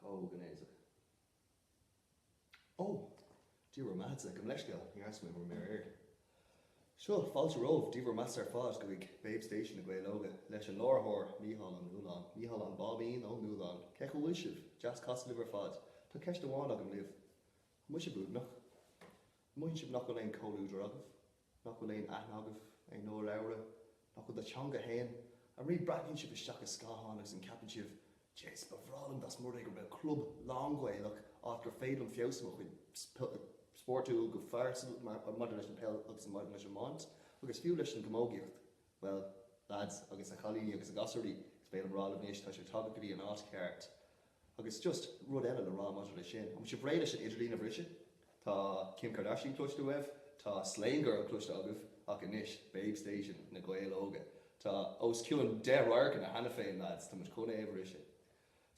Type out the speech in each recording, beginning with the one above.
Chomh gnéasach. Ó! Dia bhur mbeathasa, gabh mo leithscéal, ní fhaca mé ar maidir. Seo, fáilte romhaibh, Dia bhur mbeathasa ar fad go dtí Babe Station na Gaeil Óga leis an láithreoir Mícheál Ó Nualláin, Mícheál an Báibín Ó Nualláin, cén chaoi a bhfuil sibh? Deas casadh libh ar fad. Tá ceist amháin agam daoibh. Má tá sibh uaigneach, an mothaíonn sibh nach bhfuil aon comhluadar agaibh, nach bhfuil aon aithne agaibh, ag labhairt i bhur dteanga fhéin, ariamh, breathnaíonn sibh isteach i scáthán agus an ceapann sibh, Jees, ba bhreá liom dá mba rud é go raibh club lánghaelach, áit gur féidir liom feabhsú ar mo chuid spórtúil go phearsanta maidir leis an peil agus maidir leis an iomáint agus fiú leis an gcamógaíocht, bhuel, lads, agus a chailíní agus a ghasúirí, is béal an bhráid libh anois, tá sibh tagtha go dtí an áit cheart. Agus just rud eile le rá maidir le sin, an bhfuil sibh réidh leis an idirlíon a bhriseadh? Tá Kim Kardashian cloiste agaibh, tá Slane Girl cloiste agaibh ach anois, Babe Station na Gaeil Óga. Tá os cionn 10 radharc ann cheana féin lads, tá muid chun é a bhriseadh.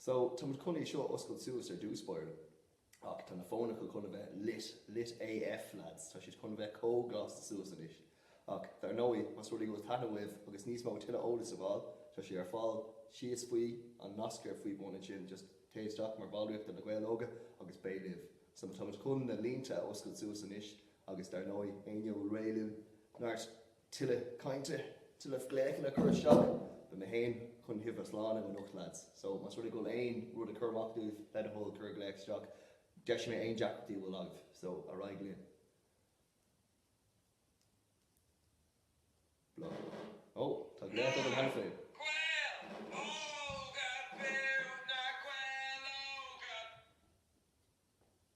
So, tá muid chun é seo a oscailt suas ar dtús báire. Ach tá na fónacha chun a bheith lit, lit AF lads, tá siad chun a bheith chomh lasta suas anois. Ach dar ndóigh, más rud é go bhfuil taithneamh uaibh agus níos mó tuilleadh eolais a fháil, tá sé ar fáil síos faoi, an nasc ar faoi bun ansin, just téigh isteach mar bhallraíocht do Na Gaeil Óga agus beidh libh. So táimid chun na línte a oscailt suas anois agus dar ndóigh, éinne a bhfuil réidh linn, neart. Toil cainte, toil glaochanna a chur isteach. Beidh mé fhéin chun sibh a shlánú anocht lads. So más rud é go bhfuil aon rud ag cur as daoibh, le do thoil, cuir glaoch isteach. Deisfidh mé aon deacrachtaí a bhfuil agaibh. So ar aghaidh linn. Blah. Oh, tá glaoch agam cheana féin.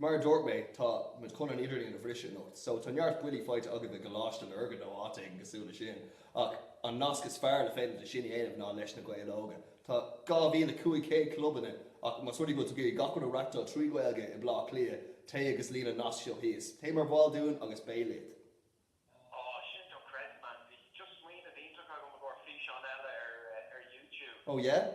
Mar a dúirt mé, tá muid chun an idirlíon a bhriseadh anocht, so tá neart buillí faighte agaibh i gColáiste Lurgan nó áit éigin cosúil le sin, ach an nasc is fearr is féidir le sin a dhéanamh ná leis na Gaeil Óga. Tá 2,500 clubanna ach más rud é go bhfuil tú ag iarraidh gach rud a reachtáil trí Ghaeilge i mBlá Cliath, téigh agus líon an nasc seo thíos. Téigh mar bhall dúinn agus beidh leat! Aww shit, no credit, man. Just smaoineamh iontach agam i gcomhair físeán eile ar ar youtube. Oh yeah?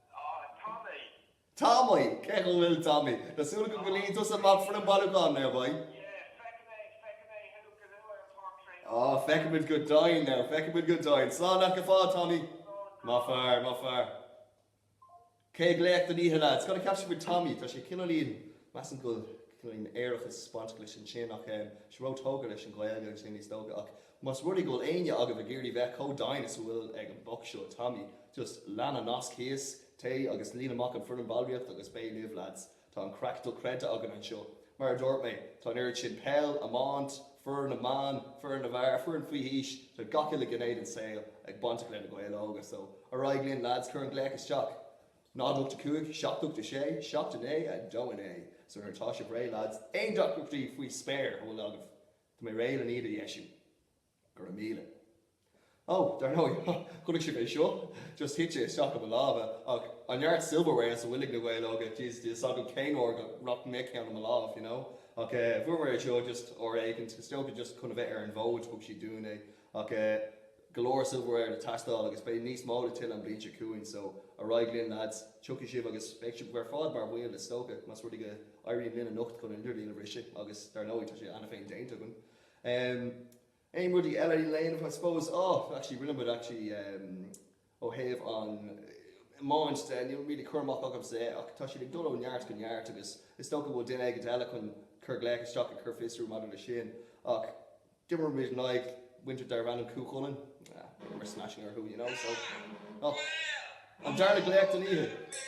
Tommy. Tommy! Cén chaoi a bhfuil Tommy? Tá súil agam go líonann tusa amach an fhoirm bhailiúcháin now boy. Yeah, feicfidh mé, feicfidh mé thú go luath ar an Páirc Traenála. Oh, feicfimid go deimhin now, feicfimid go deimhin. Slán leat go fóill, Tommy. Maith fear, maith fear. Céad ghlaoch den oíche lads? Cad a cheap sibh faoi Tommy? Tá sé cineáilín, measaim go bhfuil cineáilín aerachas ag baint leis ansin ach, em, is ró-thógtha leis an Ghaeilge agus é is dócha ach Más rud é go bhfuil éinne agaibh ag iarraidh bheith chomh dian is a bhfuil ag an boc seo Tommy, just lean an nasc thíos, téigh agus líon amach an foirm ballraíocht agus beidh libh lads. Tá an craic dochreidte againn anseo. Mar a dúirt mé, tá an oiread sin peil, iomáint, foireann na mban, foireann na bhfear, foireann faoi aois, tá gach uile ghné den saol ag bainteach le Na Gaeil Óga, so ar aghaidh linn lads, cuir an glaoch isteach. náid ocht a cúig, seacht ocht a sé, seacht a naoi, a dó a naoi. So nuair atá sibh réidh lads, aon deacrachtaí faoi spéir a bhfuil agaibh, Tá mé réidh len iad a dheisiú. Go raibh míle. Ó, dar ndóigh, chonaic sibh é seo? Just thite isteach i mo lámha. Ach, an neart silverware is a bhfuil ag na Gaeil Óga, jeez, níl fhios agam cén uair go rachaidh mé ag ceann i mo lámh, you know? Ach eh, fuaireamar é seo just uair éicint, is dócha just chun a bheith ar an bhfód, thug siad dúinn é. Ach eh. go leor silverware le tástáil agus beidh níos mó le tuilleadh an bhliain seo chugainn so ar aghaidh linn lads, tiocfaidh sibh agus beidh sibh ar fad mar bhaill de, is dócha, más rud é go éiríonn linn anocht chun an idirlíon a bhriseadh agus dar ndóigh tá sé cheana féin déanta againn um aon rudaí eile le léamh I suppose oh actually rinne muid actually um Ó thaobh an iomáint de, níl really cur amach agamsa é ach tá siad ag dul ó neart go neart agus is dócha go bhfuil duine éigint eile chun cur glaoch isteach ag cur fiosrú maidir le sin. Ach d'imir muid in aghaidh muintir darbh ainm Cú Chulainn, d'imir smashing orthu you know so oh an darna glaoch den oíche!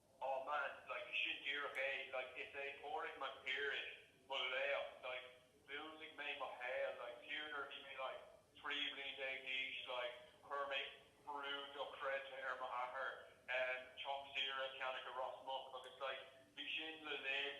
Aw man, like, sin díreach é, like, is é Pádraig Mac Piarais mo laoch, like, mhúnlaigh mé mo shaol, like, fiú nuair a bhí mé, like, 13 bliain d'aois, like, chuir mé brú dochreidte ar m'athair, em, teach saoire a cheannach i Ros Muc agus, like, bhí sin le linn,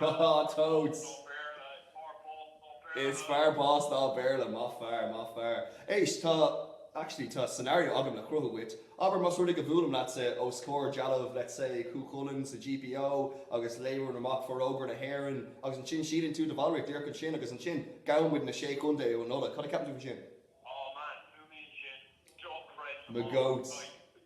Há há totes. Is fearr bás ná Béarla. Maith fear, maith fear. Éist, tá, actually, tá scenario agam le cruthú dhuit. Abair más rud é go bhuailim leatsa os comhair dealbh, let's say, Chú Chulainn sa GPO agus léim amach Forógra na hÉireann agus ansin síníonn tú do bhallraíocht díreach ansin agus ansin gabhann muid na Sé Chontae ó Nola. Cad a ceapann tú faoi sin? Mo goats.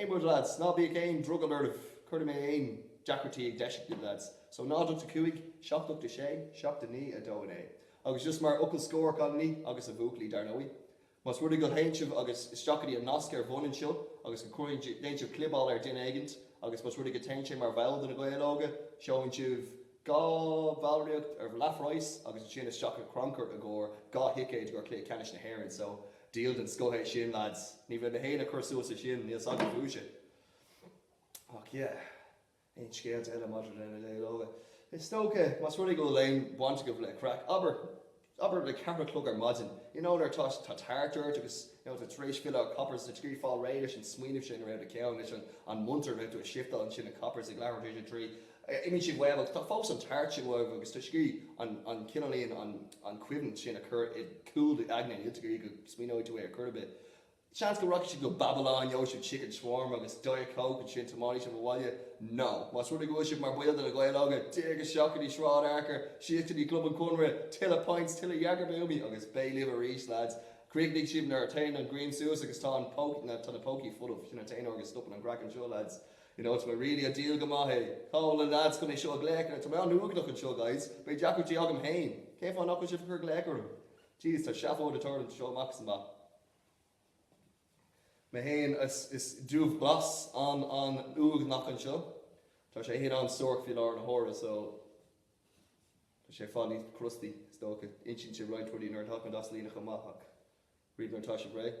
Aon rud lads, ná bíodh aon drogall oraibh, cuirfidh mé aon deacrachtaí ag deis agaibh lads, so náid ocht a cúig, seacht ocht a sé, seacht a naoi, a dó a naoi. Agus just mar fhocal scóir, cailiní agus a bhuachaillí dar ndóigh, más rud é go théann sibh agus isteach go dtí an nasc ar bun anseo agus go cuireann, déann sibh clibeáil ar duine éigint agus más rud é go téann sé mar bhall de na Gaeil Óga, gheobhann sibh dhá bhallraíocht ar leathphraghas agus ansin isteach go crannchur i gcomhair dhá thicéid go cluiche ceannais na hÉireann so, Deal den scoth é sin, lads. Ní bheidh mé fhéin ag cur suas le sin, níl 's agam fúibhse. Ach yeah, aon scéalta eile maidir le Na Gaeil Óga? Is dócha, más rud é go bhfuil aon bhaint agaibh le craic, abair, abair le ceathair a chlog ar maidin, you know, nuair atá, tá tart ort agus, you know, tú tar éis filleadh ó Coppers, ag triail fáil réidh leis an smaoineamh sin a raibh i do cheann, leis an, an munter, raibh tú ag shiftáil ansin i Coppers ag leathuair tar éis a trí, Imíonn siad uaim agus tá fós an tart sin uaibh agus tá scíth an cineáilín, an cuimhneamh sin a chur i gcúl do aigne níltear go dtí go smaoineoidh tú air chor ar bith. Seans go rachaidh siad go Babylon, gheobhaidh siad chicken shawarma agus diet coke ansin tiomáinfidh siad abhaile. No. Más rud é go bhfuil sibh mar baill de Na Gaeil Óga, téigh isteach go dtí Sráid Fhearchair, síos go dtí Club an Chonradh, tuilleadh pints, tuilleadh Jägerbombaí agus beidh libh arís lads. Críochnaigh sibh nuair a théann an ghrian suas agus tá an pócaí, tá na pócaí folamh, sin an t-aon uair go stopann an craic anseo lads. You know, it's been really a deal go maith é. Cá bhfuil na leaids chun é seo a ghlaoch ar? Tá mé an-uaigneach anseo, guys. Beidh deacrachtaí agam féin. Cén fáth nach bhfuil sibh ag cur glaoch orm? Jeez, tá seafóid ag tarlú anseo amach is amach. Mé féin, is, is Dubhghlas an, an uaigneach anseo. Tá sé féin an-suairc faoi láthair na huaire, so Tá sé i bhfad níos crusty, is dócha. Insíonn sé roinnt rudaí nuair atá an das líneach amach, ach ríomh nuair atá sé réidh.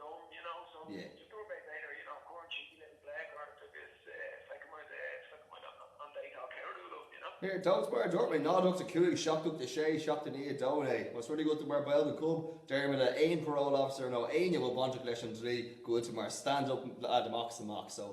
dom you know so just do a bit later you know cuireann sí blag ort agus feiceann muid feiceann muid an date á ceiliúradh liom you know. Ar ndóigh mar a dúirt mé náid a hocht a cúig seacht a hocht a sé seacht a naoi a dó a naoi más rud é go bhfuil tú mar baill go club déarfaidh mé le aon parole officer nó éinne a bhfuil bainteach leis an dlí go bhfuil tú mar stand up lad amach is amach so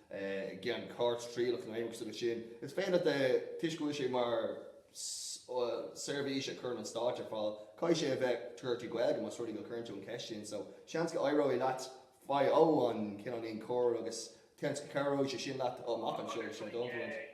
i gceann cúirt trialach nó aon rud sin. Is féidir leat a tuiscint go bhfuil sé mar seirbhís a chuireann an stáit ar fáil. Caithfidh sé a bheith curtha trí Ghaeilge más rud é go cuireann tú an cheist sin. So, seans go éireoidh leat faigh o an cineáilín cóir agus seans go cabhróidh sé sin leat amach anseo, sé an dóigh a bhfuil.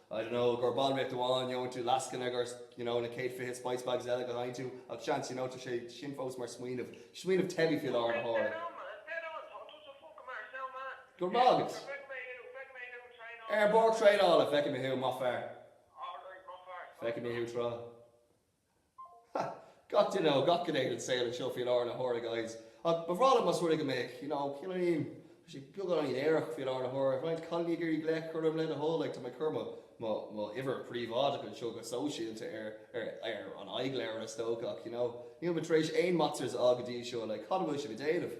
I don't know, gur ball riocht amháin, gheobhainn tú lascaine, gur, you know, na céad fiche spice bags eile go n-itheann tú, ach seans, you know, tá sé sin fós mar smaoineamh, smaoineamh teibí faoi láthair na huaire. Go raibh maith agat! Ar bord traenála, feicfimid thú, maith fear! Feicfimid thú tráth. Ha! Gach duine ó gach gné den saol anseo faoi láthair na huaire, guys. Ach ba bhreá liom más rud é go mbeadh, you know, cineáilín, tá sé beagáinín aerach faoi láthair na huaire, roinnt cailíní ag iarraidh glaoch orm, le do thoil, like, tá mé ag cur mo, mo, mo uimhir príobháideach anseo go sóisialta ar, ar, ar an Aghaidhleabhar, is dócha, ach, you know, níl mé tar éis aon matches a fháil go dtí seo, like, cad a bhfuil sibh ag déanamh?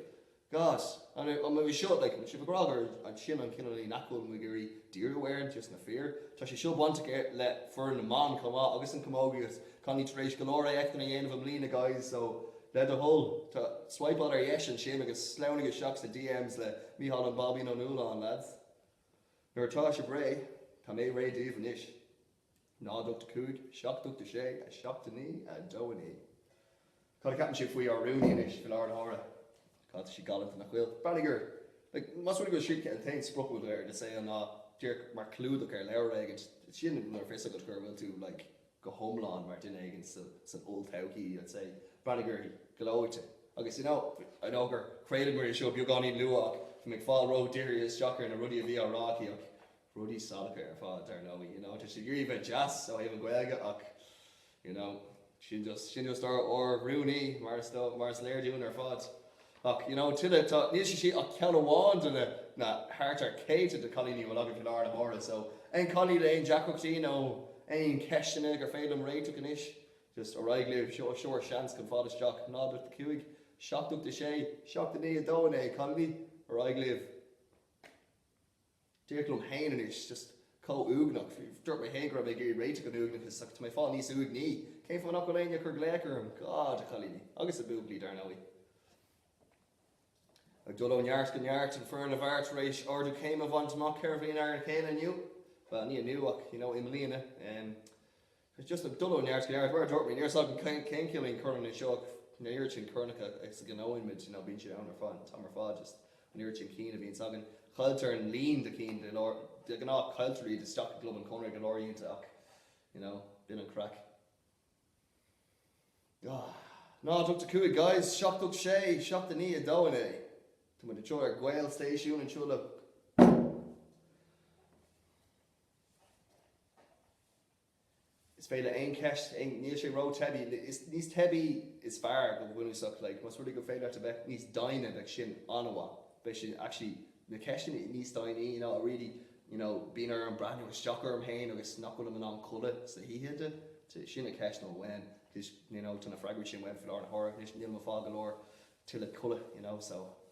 Gus, An raibh, an raibh seo, like, an raibh sibh ag rá go raibh an, sin an cineáilín nach bhfuil muid ag iarraidh díriú air, an just na fir. Tá sé seo bainteach ar, le foireann na mban chomh maith agus an camógaíocht. Táimid tar éis go leor éachtanna a dhéanamh i mbliana guys so le do thoil, tá, svaidhpeáil ar dheis ansin agus sleamhnaigh isteach sna DMs le Micheál an Baibín Ó Nualláin lads. Nuair atá sibh réidh, tá mé réidh daoibh anois. 0 8 5 7 8 6 7 9 2 9 Cad a cheapann sibh faoi ár rúnaí anois, faoi láthair na huaire? Cad, tá sí galánta nach bhfuil? Breathnaigh uirthi, like, más rud é go bhfuil siadsan, an t-aon sprioc a bhfuil air ina saol ná díreach mar chlúdach ar leabhar éigin, sin nuair a fios agat go bhfuil tú, like, go hiomlán mar duine éigin sa, san olltodhchaí, I'd say. Breathnaigh uirthi. Gleoite. Agus, you know, I know gur chraolaigh muid an seó beagáinín luath ach bhí mé ag fáil ródhírithe isteach ar na rudaí a bhí á rá aici ach, Rudaí salacha ar fad, dar ndóigh, you know, tá siad ag iarraidh a bheith deas ó thaobh an Ghaeilge ach, you know, sin just, sin just ár, ár rúnaí mar is dóigh, mar is léir dúinn ar fad. Ach, you know, tuilleadh, tá, níl sé sin ach ceann amháin de na, na, thart ar céadta de chailíní a bhfuil againn faoi láthair na huaire so aon chailín le aon deacrachtaí nó aon cheisteanna gur féidir liom réiteach anois, just ar aghaidh libh, sure, sure, seans chun fáil isteach, náid ocht a cúig, seacht ocht a sé, seacht a naoi a dó a naoi, cailíní, ar aghaidh libh. Díreach liom féin anois, just chomh uaigneach. Dúirt mé féin go raibh mé ag iarraidh réiteach an uaigneachais ach tá mé ag fáil níos uaigní. Cén fáth nach bhfuil éinne ag cur glaoch orm? God, a chailíní. Agus a bhuachaillí, dar ndóigh. Ag dul ó neart go neart, an foireann a bhí tar éis ardú céime a bhaint amach ceithre bhliain ar a chéile inniu, bhuel, ní inniu ach, you know, i mbliana. It's just ag dul ó neart go neart. Mar a dúirt mé, níl a fhios agam cén cineál corn anois ach an oiread sin cornacha is a ghnóthaíonn muid, nó bíonn siad ann ar feadh an t-am ar fad, just an oiread sin cinn a bhíonns againn. Cailltear an líon de chinn de lár, de ghnáth cailltear iad isteach i gClub an Chonartha go leor ionnta ach, you know, b'in an craic. Ah. 0 8 5 guys, 7 8 6, 7 9, 2 9. Tá muid anseo ar Gael Station anseo le. Is féidir aon cheist aon níl sé rótheibí is níos teibí is fearr go bunúsach like más rud é gur féidir leat a bheith níos doimhne beidh sin an-mhaith beidh sin actually na ceisteanna níos doimhne you know I really you know bíonn orm breathnú isteach orm féin agus nach bhfuilim in ann codladh san oíche de te sin na ceisteanna uaim cos you know tá na freagraí sin uaim faoi láthair na huaire anois níl mé ag fáil go leor tuilleadh codladh you know so.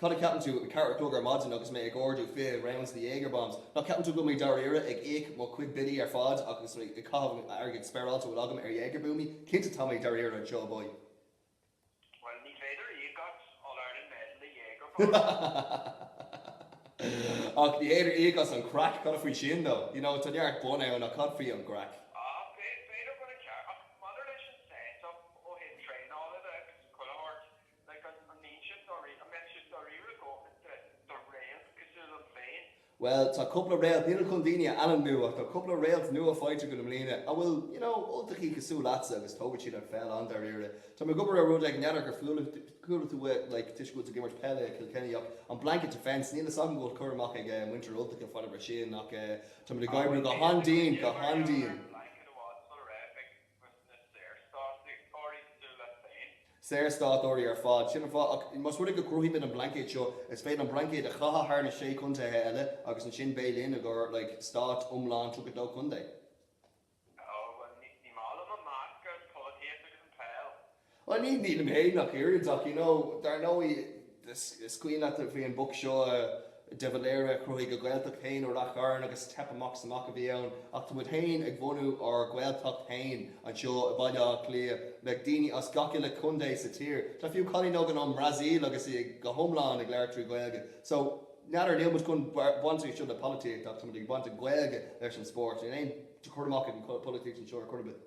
Cad a cheapann tú? a ceathair a chlog ar maidin agus mé ag ordú fiche rounds de Jaeger bombs. Nach gceapann tú go mbeidh mé dáiríre ag íoc mo chuid billí ar fad agus mé ag caitheamh an airgid spáráilte a bhfuil agam ar Jaeger buamaí? Cinnte tá mé dáiríre anseo boy. Bhuel, ní féidir a íoc as All Ireland medal le Jaeger bombs. Ach ní féidir íoc as an craic, cad faoi sin dó? You know, tá neart bonn ann ach cad faoi an gcraic? Ah, b'fhéidir go raibh ceart. Ach maidir leis an set-up ó thaobh traenála de agus an chuile shórt, Like, an mbíonn siad dáiríre, an mbeadh siad dáiríre a dhóthain do réalt cosúil liom féin? Bhuel, tá cúpla réalt, nílim chun daoine a ainmniú, ach tá cúpla réalt nua faighte agam i mbliana a bhfuil, you know, Ultachaí cosúil leatsa agus tógfaidh siad an pheil an-dáiríre. Tá mé ag obair ar rud ag, n'fheadar gur chuala, chuala tú uait, like, toisc go bhfuil tú ag imirt peile i Kilkenny ach an blanket defence, níl fhios agam go bhfuil cur amach ag eh muintir Ultach ar fad ar sin ach eh tá muid ag Ah, oibriú bhuel, go bíonn, bíonn, han-dian, bíonn go ag obair ar, ar han-dian. an blanket amháin, sula raibh, like. Agus na Saorstátaigh? Cosúil leat féin. Saorstátóirí ar fad. Sin an fáth. Ach más rud é go gcruthaímid an blaincéad seo, is féidir an blaincéad a chaitheamh thar na Sé Contaetha eile agus ansin beidh linn, i gcomhair, like, Stáit iomlán tríocha dó contae. Ó, bhuel, ní maith liom an meascadh polaitíocht agus an peil. Bhuel, nílim fhéin ach oiread ach you know, dar ndóigh, is cuimhin leat a bhí an boc seo de Valera, chruthaigh a Ghaeltacht fhéin i Ráth Chairn agus teip amach 's amach a bhí ann ach tá muid fhéin ag bhunú ár Ghaeltacht fhéin anseo i Bhaile Átha Cliath le daoine as gach uile contae sa tír. Tá fiú cailín againn ón mBrasaíl agus í go hiomlán ag labhairt trí Ghaeilge. So, n'fheadar, níl muid chun baint anseo le polaitíocht ach tá muid ag baint an Ghaeilge leis an spóirt. Níl aon chur amach ag an polaitíocht anseo ar chor ar bith.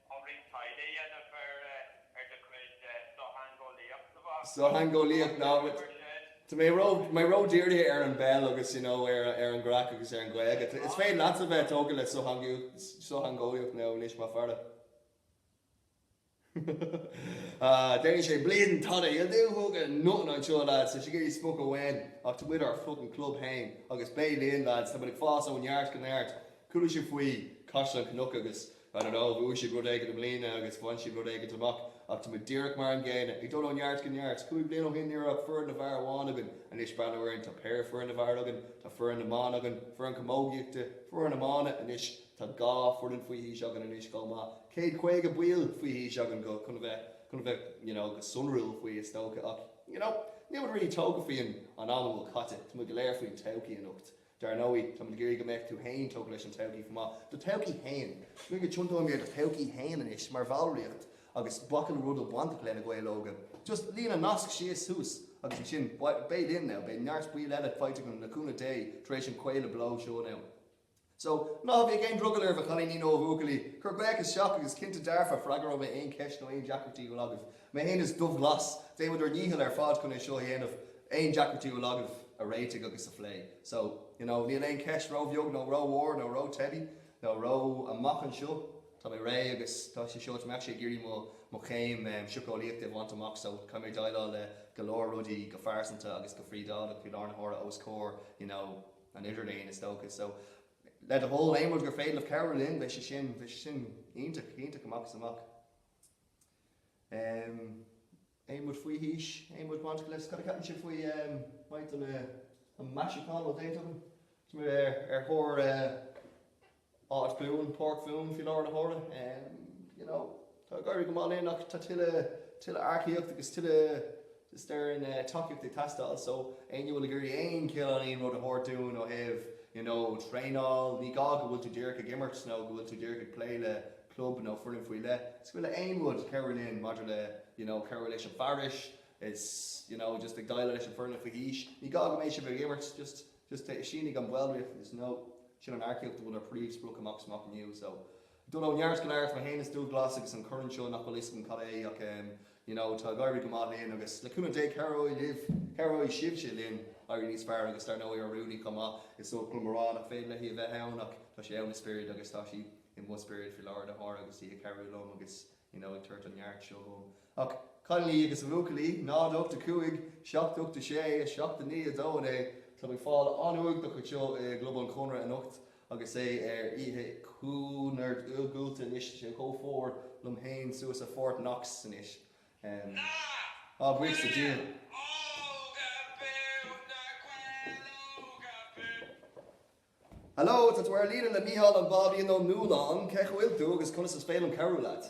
Tá roinnt taighde a dhéanamh ar do chuid sochtheangeolaíocht, a Bhá. Sochtheangeolaíocht, ná bac. Tá mé ró, mé ró dírithe ar an bpeil agus you know ar, ar an gcraic agus ar an Ghaeilge. Is féidir leatsa bheith tógtha le sochtheangeolaíocht, sochtheangeolaíocht now anois más fearr leat. Ah, déanfaidh sé bleedin' tada, he'll do fuckin' nothing anseo lads, tá sé ag iarraidh spochadh uainn ach tá muid ár fuckin' club féin agus beidh linn lads, tá muid ag fás ó neart go neart, chuala sibh faoi Caisleán Cnoc agus. Ar ndóigh, bhuaigh siad rud éigin i mbliana agus bhain siad rud éigin amach ach tá muid díreach mar an gcéanna, ag dul ó neart go neart. Cúig bliana ó shin ní raibh ach foireann na bhfear amháin againn, anois breathnaigh orainn, tá péire foireann na bhfear againn, tá foireann na mban againn, foireann camógaíochta, foireann iomána anois, tá dhá foireann faoi aois againn anois chomh maith. Céad caoga baill faoi aois againn go, chun a bheith, chun a bheith, you know, go sonrúil faoi is dócha ach, you know, níl muid really tógtha faoi an, an am a bhfuil caite, tá muid go léir faoin todhchaí anocht. Dar ndóigh, táimid ag iarraidh go mbeadh tú fhéin tógtha leis an todhchaí chomh maith, do thodhchaí fhéin. Nó go dtiontóidh mé ar do thodhchaí fhéin anois mar bhallraíocht agus gach uile rud a bhfuil bainteach le Na Gaeil Óga. Just líon an nasc síos thuas agus ansin beidh linn now, beidh neart baill eile faighte againn le cúnamh Dé tar éis an chraoladh beo seo now. So, ná bíodh aon drogall oraibh, a chailíní nó a bhuachaillí. Cuir glaoch isteach agus cinnte dearfa freagróidh mé aon cheist nó aon deacrachtaí a bhfuil agaibh. Mé fhéin is Dubhghlas. Déanfaimid ár ndícheall ar fad chun é seo a dhéanamh, aon deacrachtaí a bhfuil agaibh a réitigh agus a phlé. So, you know, níl aon cheist ró-bheag nó ró-mhór nó ró-teibí nó ró amach anseo. Tá mé réidh agus tá sé seo, tá mé actually ag iarraidh mo, mo chéim em, sioceolaíochta a bhaint amach so caithfidh mé déileáil le go leor rudaí go phearsanta agus go phríobháideach faoi láthair na huaire os comhair, you know, an idirlín is dócha. So, le do thoil, aon rud gur féidir libh cabhrú linn, beidh sé sin, bheidh sé sin iontach, iontach amach is amach. Em. Aon rud faoi haois? Aon rud bainteach le scoil? Ceapaim sé faoi em. Mait an eh. an measúnú déanta againn. Is muid ar ar thóir eh. áit bhuan páirc bhuan faoi láthair na huaire em. You know tá ag éirí go maith linn ach tá tuilleadh tuilleadh earcaíocht agus tuilleadh Is tuilleadh tacaíocht ag teastáil so éinne a bhfuil ag iarraidh aon chineál aon rud a thabhairt dúinn ó thaobh you know traenáil, ní gá go bhfuil tú díreach ag imirt nó go bhfuil tú díreach ag plé le club nó foireann faoi leith, is go bhfuil aon rud cabhrú linn maidir le you know cabhrú leis an fearais is you know just ag déileáil leis an foireann faoi aois, ní gá go mbeidh sibh ag imirt just just sínigh an ballraíocht is you know sin an earcaíocht a bhfuil ár príomh sprioc amach is amach inniu so. Dul ó neart go neart, mé fhéin is Dúbhglas agus an corn seo nach bhfuil fhios agam cad é é ach em you know tá ag éirí go maith linn agus le cúnamh Dé cabhróidh libh, cabhróidh sibhse linn éirí níos fearr agus dar ndóigh Rudy chomh maith, is oth liom a rá nach féidir léi a bheith ann ach tá sí ann i spiorad agus tá sí i mo spiorad faoi láthair de shórt agus í ag cabhrú liom agus you know ag tabhairt an neart seo dhom. Ach a chailíní agus a bhuachaillí, 0 8 5 7 8 6 7 9 2 9 tá mé ag fáil an-uaigneach anseo i gClub an Chonradh anocht. Agus é ar oíche chomh hiargúlta anois, sé chomh fuar liom fhéin suas i Fort Knox anois. Ná bain leis an dial! Hello, tá tú ar an líne le Mícheál an Bábían Ó Nualláin. Cé chaoi a bhfuil tú agus conas is féidir liom cabhrú leat?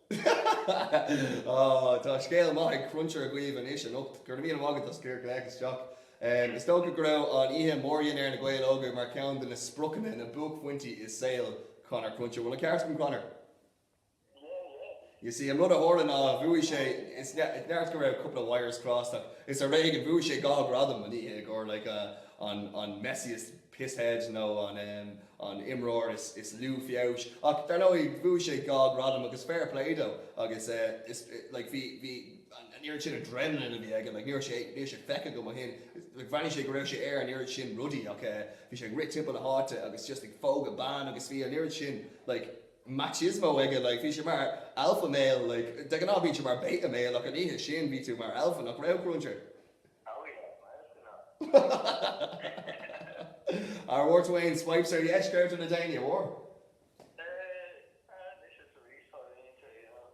Tá scéal maith Cruncher agaibh anois anocht. Go raibh míle maith agat as cur glaoch isteach. Is dócha go raibh an oíche bhronnta na Gaeil Óga mar cheann de na spriocanna, na buaicphointí i saol Conor Cruncher. Bhfuil an ceart agam, Conor? Yeah, yeah. You see, an rud a tharla ná bhuaigh sé, is dóigh go raibh cúpla wires crossed ach is ar éigean bhuaigh sé dhá ghradam an oíche i gcomhair like an messiest pisshead nó an an imreoir is lú feabhais ach dar ndóigh bhuaigh sé dhá ghradam agus fair play dó agus is like bhí bhí an oiread sin adrenalin a bhí aige like ní raibh sé níl sé feicthe agam ó shin like bhreathnaigh sé go raibh sé ar an oiread sin rudaí ach eh bhí sé ag rith timpeall na háite agus just ag pógadh ban agus bhí an oiread sin like machismo aige like bhí sé mar alpha male like de ghnáth bíonn tú mar beta male ach an oíche sin bhí tú mar alpha nach raibh cruncher. Oh yeah, miles to none. Ar bhfuair tú aon swipes ar dheis ar Tinder, an bhfuair? Eh, ah, anois is arís fá mhínte, you know.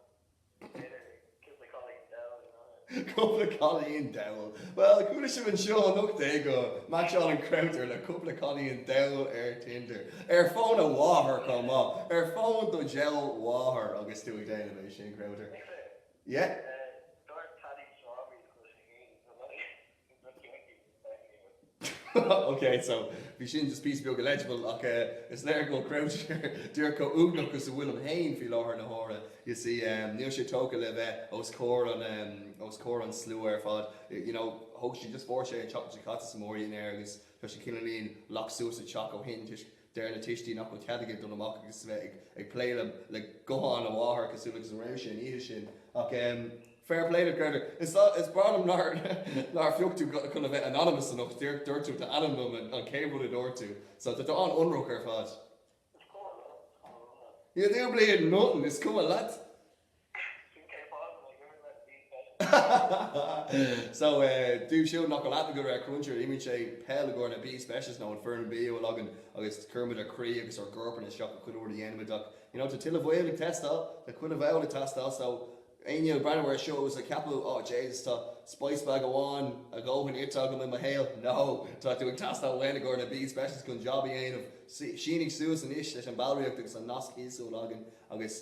B'fhéidir cúpla cailín dall, you know. Cúpla cailín dall. Bhuel, chuala sibh anseo anocht é gur match-áil an Chrabhtar le cúpla cailín dall ar Tinder. Ar fhón a mháthar chomh maith. Ar fhón do diabhal mháthar agus tú ag déanamh é sin, Crabhtar. Ag fé. Yeah. Dúirt Paddy Strawberries go raibh sé féin ag dul leis i gcoinne a chéile i Leath Éireann. OK, so bhí sin just píosa beag illegible ach is léir go bhfuil Crowther díreach chomh uaigneach is a bhfuilim féin faoi láthair na huaire. You see, níl sé tógtha le bheith os comhair an os comhair an slua ar fad. You know, thóg sé just fuair sé an Chocolate Chocats is a maraíonn air agus tá sé cineáilín locked suas sa teach ó shin toisc Deir na tuistí nach bhfuil cead aige dul amach agus a bheith ag plé le guthán a mháthar cosúil agus a raibh sé an oíche sin. Ach fair play leat, Crowther. Is breá liom nár phioc tú chun a bheith anonymous anocht. Dúirt tú d'ainm liom, an chéad rud a dúirt tú. So tá tú an-ionraic ar fad. You do bleeding nothing, is cuma leat. So, dóibh siúd nach bhfuil aithne agaibh ar Cruncher, imríonn sé peil i gcomhair na B-Specials nó an foireann B a bhfuil againn agus cuirimid ár gcroí agus ár gcorpanna isteach le chuile rud a dhéanaimid ach, you know, tá tuilleadh baill ag teastáil, tá chuile bhall ag teastáil so, éinne ag breathnú ar seo agus ag ceapadh, oh Jaysus, tá spice bag amháin a dhóthain ite agam i mo shaol, no! Tá tú ag teastáil uainn i gcomhair na B-Specials chun jab a dhéanamh, sínigh suas anois leis an ballraíocht agus an nasc thíos a bhfuil againn agus.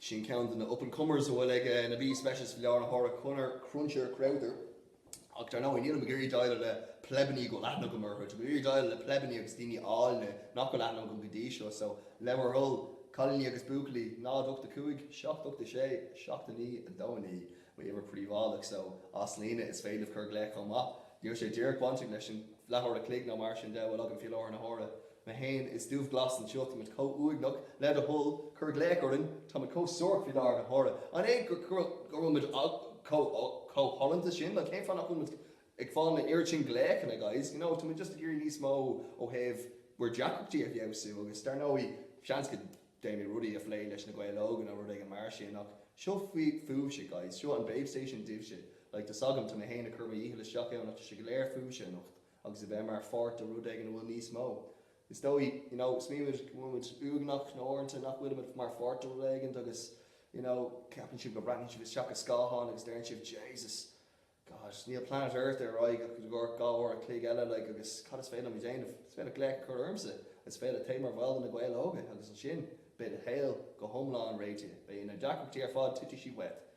Sin ceann de na up-and-comers a bhfuil ag na B-Specials faoi láthair na huaire, Cruncher Crowther. Ach dar ndóigh, nílim ag iarraidh déileáil le pleibeannaí a bhfuil aithne agam orthu. Táim ag iarraidh déileáil le pleibeannaí agus daoine áilne nach bhfuil aithne agam go dtí seo. So, le bhur dtoil, cailíní agus buachaillí, 0 8 5 7 8 6 7 9 2 9 m'uimhir príobháideach. So, as líne, is féidir libh cur glaoch chomh maith. Níl sé díreach bainteach leis an leathuair a chloig nó mar sin de a bhfuil agam faoi láthair na huaire. Mé fhéin is Dubhghlas anseo, táimid chomh uaigneach le do thoil, cuir glaoch orainn, táimid chomh suarach faoi láthair na huaire. An é go bhfuil muid chomh shollúnta sin nó cén fáth nach bhfuil muid ag fáil na oiread sin glaochanna guys, you know tá muid just ag iarraidh níos mó ó thaobh bhur deacrachtaí a fheabhsú agus dar ndóigh seans go ndéanfaimid rudaí a phlé leis na Gaeil Óga nó rud éigin mar sin ach seo fúibhse guys, seo an Babestation daoibhse, like tá 's agam, tá mé fhéin ag cur mo dhícheall isteach ann ach tá sé go léir fúibhse anocht. agus a bheith mar pháirt de rud éigin a bhfuil níos mó. Is dóigh, you know, smaoinímid go bhfuil muid uaigneach nó uaireanta nach bhfuilimid mar pháirt de rud éigin agus, you know, ceapann sibh go bhreathnaíonn sibh isteach i scáthán agus deireann sibh, Jesus, gosh, níl Planet Earth ar aghaidh ach dhá uair an chloig eile, like, agus cad is féidir liom a dhéanamh? Is féidir glaoch a chur ormsa, is féidir téigh mar bhall de Na Gaeil Óga agus ansin beidh do shaol go hiomlán réitithe, beidh na deacrachtaí ar fad, titfidh siad uait,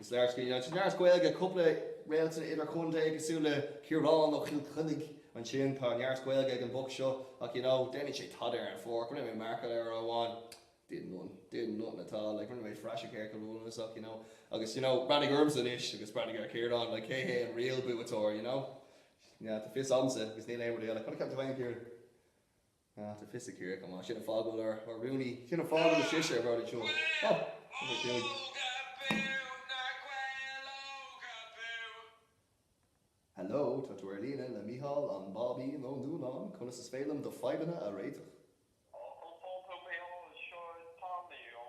Is léir you know, is léir go bhfuil cúpla réaltanna idir-chontae cosúil le Ciarán Ó Chill Chainnigh ansin. Tá neart Gaeilge ag an mboc seo ach you know, déanann sé tada ar an pháirc. Rinne mé marcáil air uair amháin, did none, did nothing at all, like rinne mé praiseach air go brónasach you know. Agus you know, breathnaigh ormsa anois agus breathnaigh ar Chiarán, like cé hé an real buaiteoir you know? Yeah, tá fios agamsa agus níl aon rud eile. Cad a cheapann tú fhéin, Ciarán? Ó tá fios ag Ciarraíoch an maith sin a fágadh ar ár rúnaí cinn a fágadh na sise ar bharr an tseoil. Ó! Uimhir a cúig. Hello, tá tú ar líne le Mícheál an Báibín Ó Nuanáin, conas is féidir liom do fadhbanna a réiteach? Ó, go fóill thú Mícheál, seo Tommy ó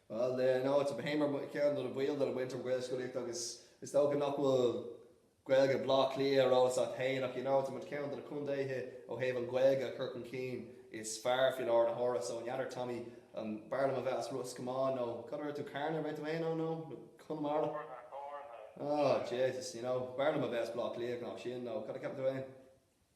Bhuel, in áit a bheith mar ba cheart nuair is ball tú de muintir Ghaelscolaíochta agus is dócha nach bhfuil Gaeilge Bhleá Cliath ar eolas agat féin ach, you know, tá muid ceann de na contaetha ó thaobh an Ghaeilge a chur chun cinn is fearr faoi lár na huaire so an n'fheadar Tommy an b'fhearr liom a bheith as Ros Comáin nó cad arb as tú Carna arb as tú féin nó nó Conamara? Carna, Carna. Oh, Jesus, you know, b'fhearr liom a bheith as Bleá Cliath ná sin nó cad a cheapann tú féin?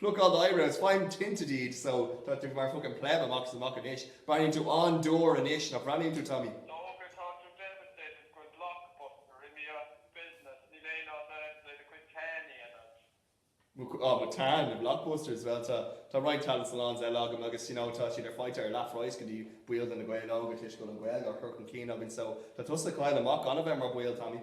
Plucáil do eyebrows faigh tinted iad so tá tú mar fuckin pleb amach is amach anois. Breathnaíonn tú an-dúr anois, nach breathnaíonn tú Tommy? D'fhéadfá rá tá tú devastated gur blockbusters imithe as business, níl aon áit agat le do chuid tan a dhéanamh. Mo chuid, ah mo tan, na blockbusters, bhuel tá, tá roinnt tanning salons eile agam agus you know tá siad ar faighte ar leath phraghas go dtí baill de Na Gaeil Óga toisc go bhfuil an Ghaeilge á chur chun cinn againn so tá tusa ag cailleadh amach gan a bheith mar baill Tommy.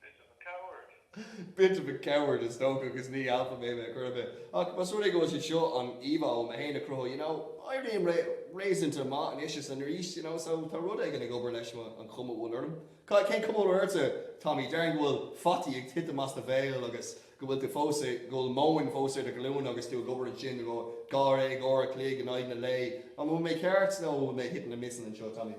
Bit of a coward. Bit of a coward is dócha agus ní alpha male ar chor ar bith. Ach más rud é gurb é seo an íomhá atá mé tar éis a chruthú you know éirím leis réasúnta maith anois is arís you know so tá rud éigin ag obair leis an chuma a bhfuil orm. Ca, cén cuma a bhfuil ortsa Tommy? Déarfainn go bhfuil fataí ag titim as do bhéal agus go bhfuil tú fós i, go bhfuil móin fós ar do ghlúine agus tú ag obair ansin i gcomhair dháréag uair a chloig in aghaidh na lae. An bhfuil mé ceart nó an bhfuil mé hitting and missing anseo Tommy?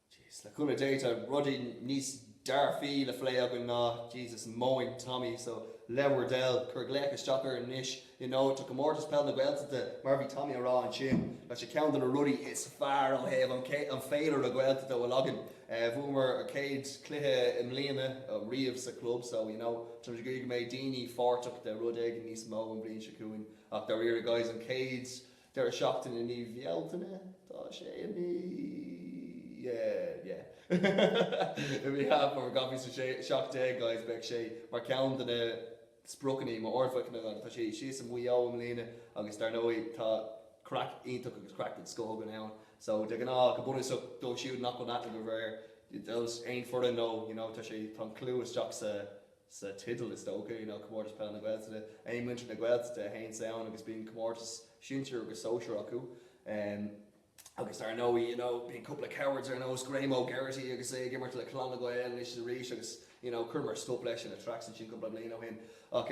Jeez, le cúnamh Dé tá rudaí níos dearfaí le phlé againn ná Jesus móin Tommy, so le bhur dtoil, cuir glaoch isteach orainn anois i dtaobh do Chomórtas Peil na Gaeltachta mar a bhí Tommy a rá ansin, tá sé ceann de na rudaí is fearr ó thaobh an an féilire Gaeltachta a bhfuil againn. Bhuamar an chéad chluiche i mbliana, oh riamh sa chlub, so you know, táimid ag iarraidh go mbeidh daoine páirteach de rud éigin níos mó an bhliain seo chugainn ach dáiríre guys an chéad Deireadh seachtaine i mí Bhealtaine tá sé i mí yeah yeah i mí Eanáir 2017 guys beidh sé mar ceann de na spriocanna is mó orthu tá sé síos i Maigh Eo i mbliana agus dar ndóigh tá craic iontach agus craic den scoth againn ann so de ghnáth go bunúsach dóibh siúd nach bhfuil aithne agaibh ar aon foireann nó you know tá sé tá an clú isteach sa sa teideal is dócha, ná Comórtas Peil na Gaeltachta. téann muintir na Gaeltachta go haon suíomh amháin agus bíonn comórtas sinsir agus sóisir acu. Agus dar ndóigh you know bíonn cúpla cowards ar nós Graham Geraghty agus é ag imirt le Clann na Gael anois is arís agus you know chuireamar stop leis ina tracks ansin cúpla bliain ó shin. Ach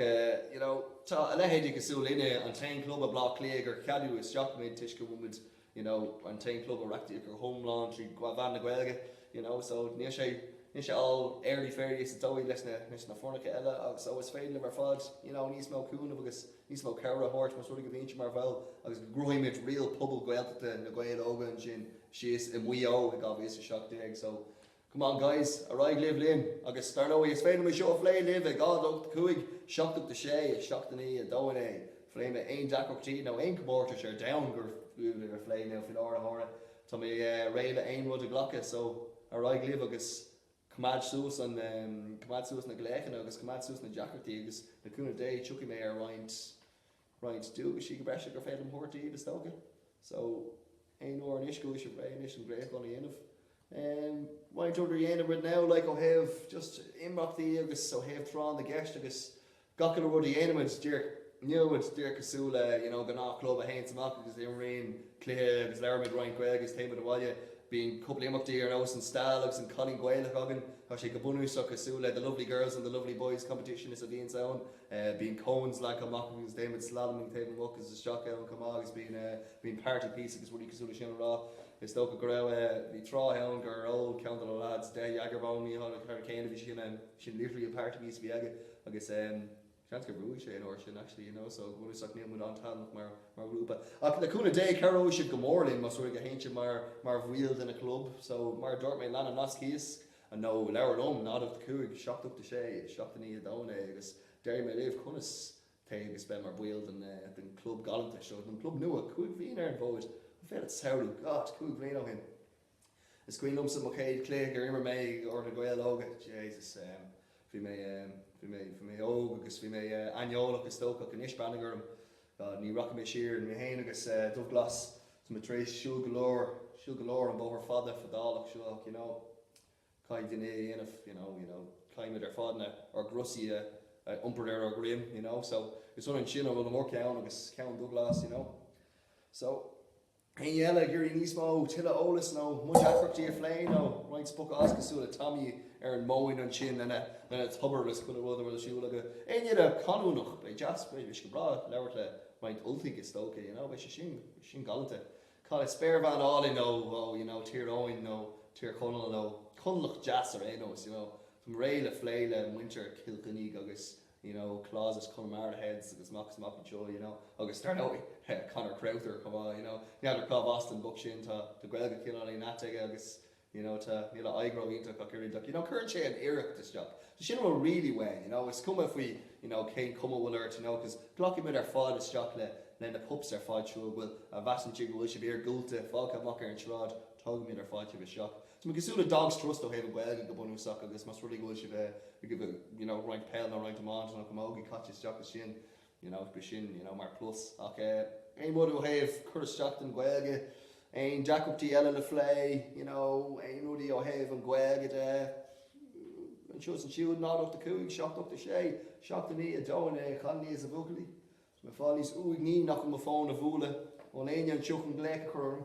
you know tá a leithéidí cosúil linne, an t-aon club i Baile Átha Cliath gur cheadaíodh isteach muid toisc go bhfuil muid you know an t-aon club a reachtaítear go hiomlán trí mheán na Gaeilge you know so níl sé níl sé all airy fairy is dóigh leis na leis na foirneacha eile so is féidir libh ar fad you know níos mó cúnamh agus níos mó cabhair a thabhairt más rud é go bhíonn sibh mar bhaill agus go gcruthaímid real pobal Gaeltachta Na Gaeil Óga ansin síos i Maigh Eo i 2017 so Come on guys, ar aghaidh libh linn agus dar ndóigh is féidir mé seo a phlé libh ag 0 8 5 7 8 6 7 9 2 9. Pléifidh mé aon deacrachtaí nó aon comórtais ar domhan gur fiú a phlé nó fiú labhairt orthu tá mé réidh le aon rud a ghlacadh so ar aghaidh libh agus coimeád suas an, coimeád suas na glaochanna agus coimeád suas na deacrachtaí agus le cúnamh Dé tiocfaidh mé ar roinnt roinnt duaisí go breise gur féidir liom thabhairt daoibh is dócha. So, aon uair anois go bhfuil sibh réidh anois an glaochán a dhéanamh. Ehm, roinnt rudaí a dhéanaimid now, like, ó thaobh just imeachtaí agus ó thaobh tráth na gceist agus gach uile rud a dhéanaimid díreach inniu, it's díreach cosúil le, you know, gnáth club a théanns amach agus imríonn cluiche agus labhraímid roinnt Gaeilge is téimid abhaile. Bíonn cúpla imeachtaí ar nós an Stail agus an Cailín Gaelach againn, tá sé go bunúsach cosúil le The Lovely Girls and The Lovely Boys competition is a bhíonns ann Bíonn cones leagtha amach agus déanaimid slalom agus téimid amach agus isteach ann chomh maith agus bíonn bíonn party piece agus rudaí cosúil le sin a rá. Is dócha go raibh eh bhí tráth ann gur ól ceann de na lads deich Jager Bomb naoi hurricane a bhí sin em sin literally an party piece a bhí aige agus em seans gur bhuaigh sé an uair sin actually you know so go bunúsach níl muid an-taitneamhach mar mar ghrúpa ach le cúnamh Dé cabhróidh siad go mór linn más rud é go théann siad mar mar bhaill den a chlub so mar a dúirt mé lean an nasc thíos An nó labhair liom, náid ocht a cúig, seacht ocht a sé, seacht a naoi a dó a naoi agus déarfaidh mé libh conas téigh agus beith mar baill den den club galanta seo, den club nua cúig bhliain ar an bhfód, an féidir leat samhlú, God, cúig bhliain ó shin is cuimhin liomsa mo chéad chluiche gur imir mé i gcomhair Na Gaeil Óga, Jesus ehm bhí mé ehm bhí mé bhí mé óg agus bhí mé aineolach is dócha ach anois breathnaigh orm, Bhuel, ní rachaidh mé siar. Mé fhéin agus Dubhghlas, tá muid tar éis siúl go leor, siúl go leor, an bóthar fada, fadálach seo, you know. Caithfidh duine é a dhéanamh, you know, you know. Caithfidh muid ar fad na, ár gcrosaí a iompar ar ár dhroim, you know. So, is ionann sin, bhuel, mo cheann agus ceann Dhubhghlas, you know. So. Éinne eile ag iarraidh níos mó, tuilleadh eolas nó muid deacrachtaí a phlé nó roinnt spochadh as cosúil le Tommy ar an móin ansin lena tobar agus chuile rud a bhfuil ar siúl acu. Éinne eile canúnach, beidh deas, beidh sé go breá labhairt le roinnt Ultaigh is dócha, you know, beidh sé sin, beidh sé sin galanta. Cá bhfuil spéirbhean álainn ó, ó, you know, Tír Eoghain nó Tír Chonaill nó Conallach deas ar aon nós, you know. Táim réidh le phlé le muintir Chill Chainnigh agus you know, clauses Connemara heads agus mac is mac anseo, you know, agus dar ndóigh, Conor Crowther chomh maith, you know. N'fheadar cárb as don boc sin, tá Gaeilge cineál ait aige agus, you know, tá, níl a aghaidh ró-iontach ach oiread ach, you know, cuireann sé an iarracht isteach. So sin a bhfuil really uainn, you know, is cuma faoi, you know, cén chuma a bhfuil ort, you know, cos glacfaidh muid ar fad isteach le, le na pups ar fad siúd a bhfuil, a mheasann siad go bhfuil sibh iargúlta, fágtha amach ar an tsráid, tógfaidh muid ar fad sibh isteach. Tá mé cosúil le Dogs Trust ó thaobh an Ghaeilge go bunúsach agus más rud é go bhfuil sibh ag roinnt peil nó roinnt iomáint nó camógaí caite isteach le sin you know b'shin you know mar plus ach aon rud ó thaobh cur isteach don Ghaeilge, aon deacrachtaí eile le phlé, you know aon rudaí ó thaobh an Ghaeilge de anseo is ansiúd 0 8 5 7 8 6 7 9 2 9 a chailíní is a bhuachaillí. Tá mé fáil níos uaigní nach bhfuil mo fón a bhualadh ón éinne anseo chun glaoch a chur orm.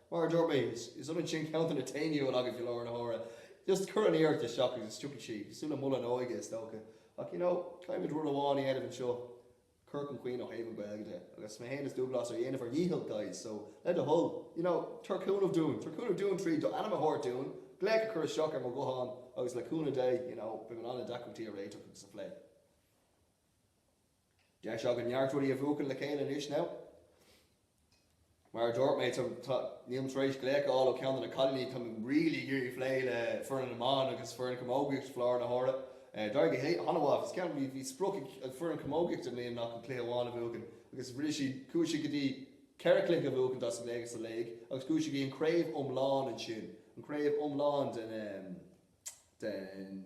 Mar a dúirt mé, is ionann sin ceantar na t-éiniúil agus i láthair na huaire. Just cuir an iarracht isteach agus tiocfaidh sí, sula mol an óige is dócha. Ach you know, caithfimid rud amháin a dhéanamh anseo, cur chun cinn ó thaobh an Gaeilge de. Agus mé fhéin is Dúglais, ag déanamh ár ndícheall guys, so le do thoil, you know, tabhair cúnamh dúinn, tabhair cúnamh dúinn tríd do ainm a thabhairt dúinn, glaoch a chur isteach ar mo ghuthán agus le cúnamh Dé, you know, beidh mé in ann na deacrachtaí a réiteach agus a phlé. Deis againn neart rudaí a bhuachan le chéile anois now. Mar a dúirt mé, nílim tar éis glaoch a fháil ó cheann de na cailíní, táim really ag iarraidh phlé le foireann na mban agus foireann camógaíocht i láthair na huaire. D'éirigh go h-ana mhaith agus ceann, bhí, bhí sprioc ag foireann camógaíocht i mbliana ná ach cluiche amháin a bhuachan agus rinne siad, chuaigh siad go dtí ceithre chluiche a bhuachan dos an léig, sa léig agus chuaigh siad go dtí an craobh iomlán ansin, an craobh iomlán den, den.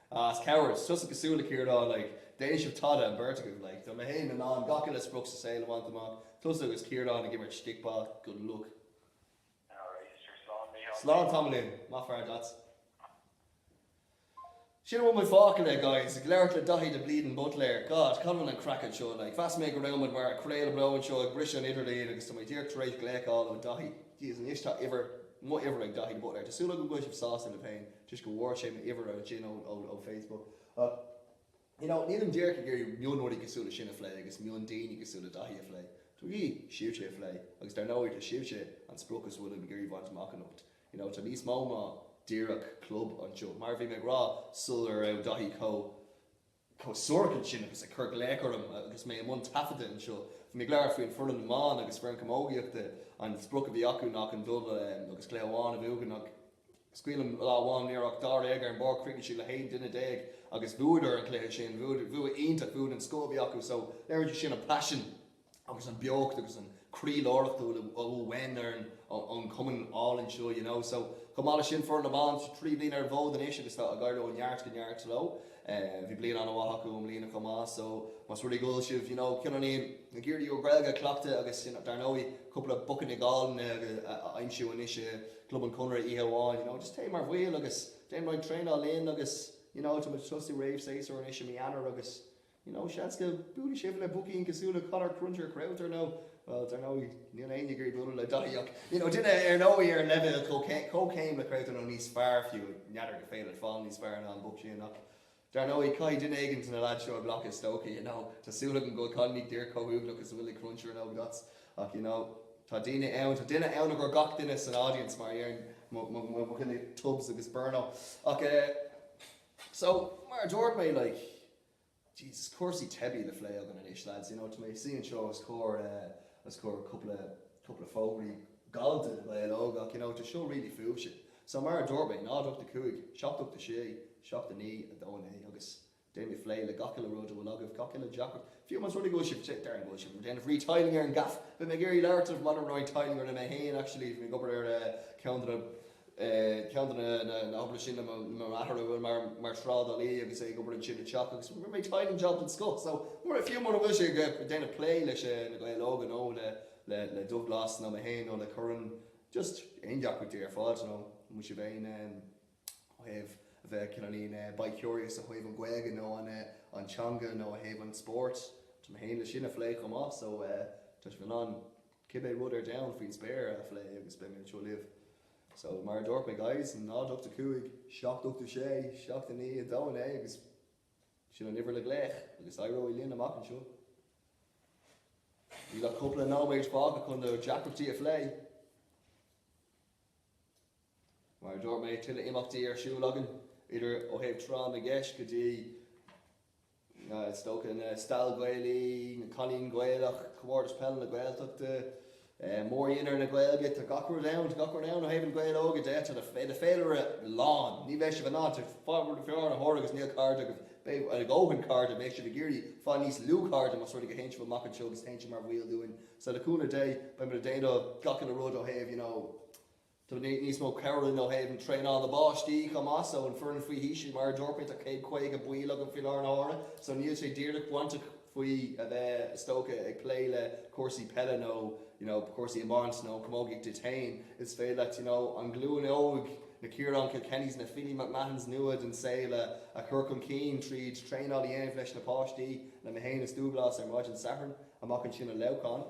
A's cabhair, 's tusa cosúil le Ciarán, like, déanann sibh tada, an beirt agaibh, like, tá mé fhéin in ann gach uile sprioc sa saol a bhaint amach, tusa agus Ciarán ag imirt stick-ball, good luck. Alright, sure, slán Mícheál. Slán tamaillín, maith fear duit. Sin a bhfuil muid fágtha le, guys, ag labhairt le Daithí de Bleeding Buitléir, God, cá bhfuil an craic anseo, like, mheas mé go raibh muid mar a' craoladh beo anseo ag briseadh an idirlíon agus tá mé díreach tar éis glaoch a fháil ó Dhaithí, Jesus, anois tá uimhir, mo uimhir ag Daithí de Buitléir, tá súil agam go bhfuil sibh sásta libh fhéin. toisc go bhfuair sé m'uimhir ansin ó Facebook ach you know nílim díreach ag iarraidh mionrudaí cosúil le sin a phlé agus miondaoine cosúil le Daithí a phlé. Táim ag iarraidh sibhse a phlé agus dar ndóigh tá sibhse an sprioc is bhfuilim ag iarraidh bhaint amach anocht. You know tá níos mó ná díreach club anseo. Mar a bhí mé ag rá sula raibh Daithí chomh. chomh suarach ansin agus ag cur glaoch orm agus mé i mbun taifeadta anseo. Bhí mé ag labhairt faoi an foireann na mban agus foireann camógaíochta, an sprioc a bhí acu ná chun dul agus cluiche amháin a bhuachan ach is cuimhin liom lá amháin ní raibh ach dáréag ar an bpáirc chríochnaigh siad le haon duine déag agus bhuadar an cluiche sin, bhua iontach, bua den scoth a bhí acu so léirítear sin an paisean. agus an beocht agus an croíláriocht a bhfuil ó uain orainn ón gcumann álainn seo you know. So chomh maith leis sin foireann na mban trí bliana ar an bhfód anois agus tá ag éirí ó neart go neart leo. Eh bhí bliain ana-mhaith acu i mbliana chomh maith so más rud é go bhfuil sibh you know cineálín ag iarraidh bhur Gaeilge a chleachtadh agus you know dar ndóigh cúpla boicíní galánta a aimsiú anois i gClub an Chonradh oíche amháin you know just téigh mar bhall agus déan roinnt traenáil linn agus you know tá muid ag tosnú réamh-séasúr anois i mí Eanáir agus You know, seans go mbuailfidh sibh le boicín cosúil le Conor Cruncher Crowther nó, bhuel, dar ndóigh, níl éinne ag iarraidh bualadh le Daithí ach, you know, duine ar ndóigh ar an leibhéal comhchéim le Crowther nó níos fearr fiú, n'fheadar an féidir leat fáil níos fearr ná an boc sin ach, dar ndóigh, caithfidh duine éigin de na lads seo a ghlacadh is dócha, you know. Tá súil agam go bhfuil Connie ag déirc chomh uaigneach is a bhfuil ag Cruncher in Ógdots ach, you know, tá daoine ann, tá duine ann i gcomhair gach duine san audience mar a deir mo dhuine Tubs agus Byrno ach eh, so, mar a dúirt mé, like, Jesus, cúrsaí teibí le phlé againn anois, lads, you know, tá mé ag suí anseo os comhair, eh, os comhair cúpla, cúpla fógraí galánta na nGael Óg ach, you know, tá seo really fúibhse. So, mar a dúirt mé, 0 8 5 7 8 6 7 9 2 9 agus déanfaidh mé plé le gach uile rud a bhfuil agaibh, gach uile deacracht. Fiú más rud é go bhfuil sibh, déarfainn go bhfuil sibh ag déanamh retiling ar an gaff, beidh mé ag iarraidh labhairt libh maidir le retiling orm mé fhéin, actually, bhí mé ag obair ar, eh, ceann de na, Ceann de na nochtanna sin ná mo athair a bhfuil mar thrádálaí agus é ag obair ansin ag teach agus mé ag tiling job den scoth. So, fiú mura bhfuil sibh ag déanamh plé leis na Gaeil óga nó le Dubhghlas nó mé féin nó le Curran, just aon deacracht ar fad, you know, bhfuil sibh aon ó thaobh a bheith cineálín bi-curious ó thaobh an Ghaeilge nó an teanga nó ó thaobh an spóirt, tá mé féin leis sin a phlé chomh maith. So, tá sibh in ann Cibé rud ar domhan faoin spéir a phlé agus beidh mé anseo libh. So, mar a dúirt mé guys, 0 8 5 7 8 6 7 9 2 9 agus sin an uimhir le glaoch agus éireoidh linn amach anseo. Níl ach cúpla nóiméid fágtha chun na deacrachtaí a phlé. Mar a dúirt mé tuilleadh imeachtaí ar siúl againn idir ó thaobh tráth na gceist go dtí Is dócha an Stail Gaelaí, an Cailín Gaelach, Comórtas Peile na Gaeltachta, Mórdhinnéar na Gaeilge, tá gach rud ann, tá gach rud ann ó thaobh na Gaeil Óga de, tá an féilire lán, ní bheidh sibh in ann feár a thabhair agus níl cairde agaibh, beidh a dhóthain cairde, beidh sibh ag iarraidh fáil níos lú cairde más rud é go théann sibh amach anseo agus téann sibh mar bhaill dúinn, so le cúnamh Dé beimid ag déanamh gach uile rud ó thaobh you know. Tá níos mó ag cabhrú linn ó thaobh traenáil na bpáistí chomh maith so an foireann faoi haois í mar a dúirt mé tá céad caoga baill againn faoi láthair na huaire so níl sé díreach bainteach faoi a bheith is dócha ag plé le cúrsaí peile nó you know cúrsaí iomáint nó camógaíocht duit féin is féidir leat you know an glúin óg na Ciaráin Kilkennys na Philly McMahons nua den saol a a chur chun cinn tríd traenáil a dhéanamh leis na páistí le mé féin is Dúglás ar maidin Sathairn amach ansin i Leamhcán.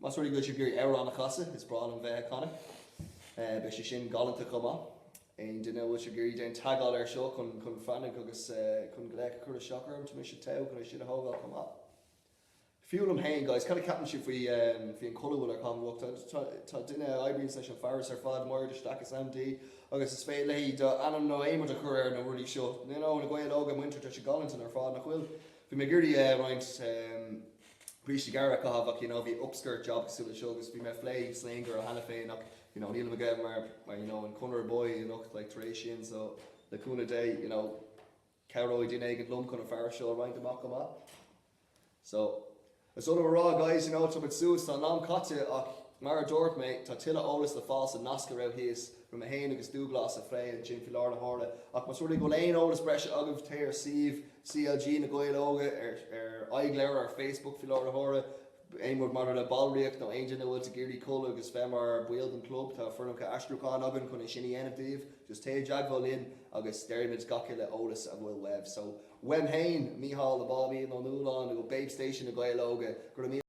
Más rud é go bhfuil sibh ag iarraidh amhrán a chasadh, is breá liom bheith ag canadh. Beidh sé sin galánta chomh maith. Aon duine a bhfuil sibh ag iarraidh, déan teagmháil air seo chun chun fainic agus chun glaoch a chur isteach orm. Tá mise ag togh chun é sin a thógáil chomh maith. Fiú liom féin, guys, cad a cheapann sibh faoi faoi an culaith a bhfuil orm anocht? Tá tá duine a oibríonns leis an fearas ar fad, Máire de Staic is ainm di agus is féidir léi do ainm nó aon rud a chur ar na rudaí seo. You know, Na Gaeil Óga muintir, tá sé galánta ar fad, nach bhfuil? Bhí mé ag iarraidh roinnt eh. Brístí gearra a chaitheamh ach you know bhí upskirt job cosúil le seo agus bhí mé ag phlé slinger ó cheana féin ach you know nílim aige mar mar you know an Conor boy anocht like tar éis sin so le cúnamh Dé you know cabhróidh duine éigin liom chun an fear seo a roinnt amach chomh maith. So is oth liom a rá guys you know tá muid suas tá an am caite ach mar a dúirt mé tá tuilleadh eolas le fáil sa nasc a raibh thíos raibh mé féin agus Dúghlás ag plé ansin faoi láthair na huaire ach más rud é go bhfuil aon eolas breise agaibh téigh ar suíomh CLG Na Gaeil Óga ar ar Aghaidhleabhar, ar Facebook faoi láthair na huaire, aon rud maidir le ballraíocht nó aon duine a bhfuil tú ag iarraidh goil agus bheith mar baill den club tá foirmeacha aistriúcháin againn chun é sin a dhéanamh daoibh just téigh i dteagmháil linn agus déarfaimid gach uile eolas a bhfuil uaibh so uaim féin, Mícheál 'The Bambino' Ó Nualláin ó Babestation Na Gaeil Óga, go raibh míle.